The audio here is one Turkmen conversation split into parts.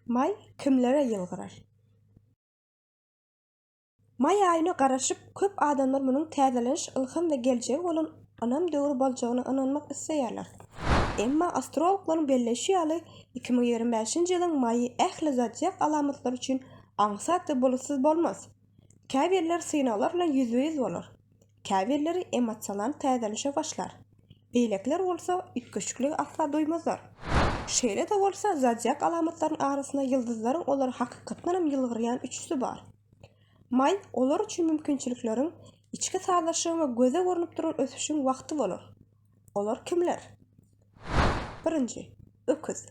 Maý kimlere ýylgyrar? Maý aýyna garaşyp, köp adamlar munuň täzeleniş, ylham we geljege bolan ynam döwri boljagyna ynanmak isleýärler. Emma astrologlaryň belleýşi ýaly, iki müň ýigrimi bäşinji ýylyň maýy ähli zodiak alamatlary üçin aňsat we bulutsyz bolmaz. Käbirleri synaglar bilen ýüzbe-ýüz bolar. Käbirleri emosional täzelenişe başlar, beýlekiler bolsa üýtgeşikligi asla duýmazlar. Şeýle-de bolsa, zodiak alamatlarynyň arasynda ýyldyzlaryň olar hakykatdanam ýylgyrýan üçüsi bar. Maý olar üçin mümkinçilikleriň, içki sazlaşygyň we göze görnüp duran ösüşiň wagty bolar. Olar kimler? Birinji, öküz.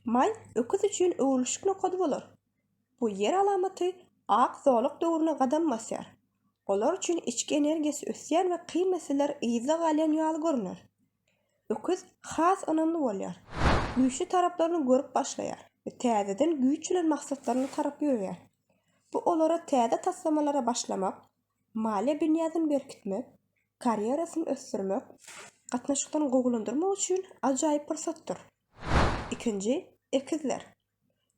Maý öküz üçin öwrülişik nokady bolar. Bu ýer alamaty Ak zolak döwrüne gadam basýar. Olar üçin içki energiýasy ösýän we kyn meseleler yzda galýan ýaly görüner. Öküz has ynamly bolýar. Güýçli taraplaryny görüp başlaýar we täzeden güýç bilen maksatlaryna tarap ýöreýär. Bu olara täze taslamalara başlamak, maliýe binýadyny berkitmek, karýerasyny ösdürmek, gatnaşyklaryny gowulandyrmak üçin ajaýyp pursatdyr. Ikinji, Ekizler.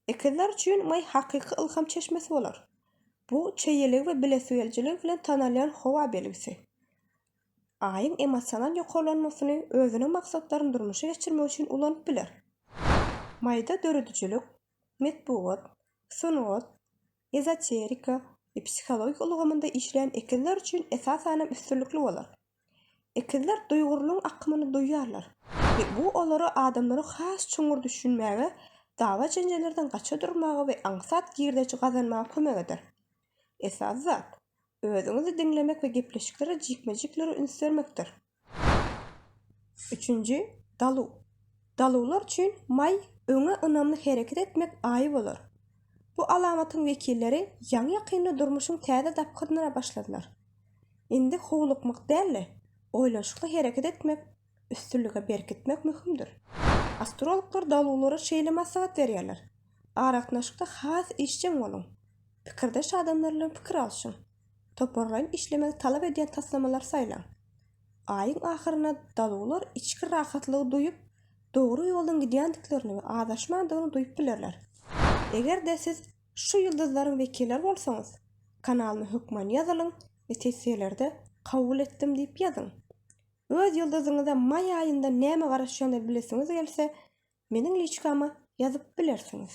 Ekizler üçin maý hakyky ylham çeşmesi bolar. Bu çeýeligi we bilesigelijiligi bilen tanalýan howa belgisi. Aýyň emosional ýokarlanmasyny özüniň maksatlaryny durmuşa geçirmek üçin ulanyp biler. Maýda döredijilik, metbugat, sungat, ezoterika we psihologik ulgamynda işleýän ekizler üçin esasanam üstünlikli bolar. Ekizler duýgurlygyň akymyny duýýarlar we bu olara adamlary has çuňňur düşünmäge, dawa-jenjellerden gaça durmaga we aňsat girdeji gazanmaga kömek eder. Esasy zat, Özüňizi diňlemek we gepleşiklere jikme-jiklere üns bermekdir. Üçünji daluw. Daluwlar üçin maý öňe ynamly hereket etmek aýy bolar. Bu alamatyň wekilleri ýaňy-ýakynda durmuşyň täze dapgynyna başladylar. Indi howlukmak däl-de, oýlanyşykly hereket etmek üstünlige berkitmek möhümdir. Astrologlar daluwlara şeýle maslahat berýärler, Aragatnaşykda has işjeň boluň. Pikirdeş adamlar bilen pikir alşyň. Toparlaýyn işlemegi talap edýän taslamalary saýlaň. Aýyň ahyrynda daluwlar içki rahatlygy duýup, dogry ýoldan gidýändiklerini we azaşmandygyny duýup bilerler. Eger-de siz şu ýyldyzlaryň wekilleri bolsaňyz, kanalyma hökman ýazylyň we tessirlerde Kabul etdim diýip ýazyň. Öz ýyldyzyňyza maý aýynda näme garaşýanyny bilesiňiz gelse, meniň liçkama ýazyp bilersiňiz.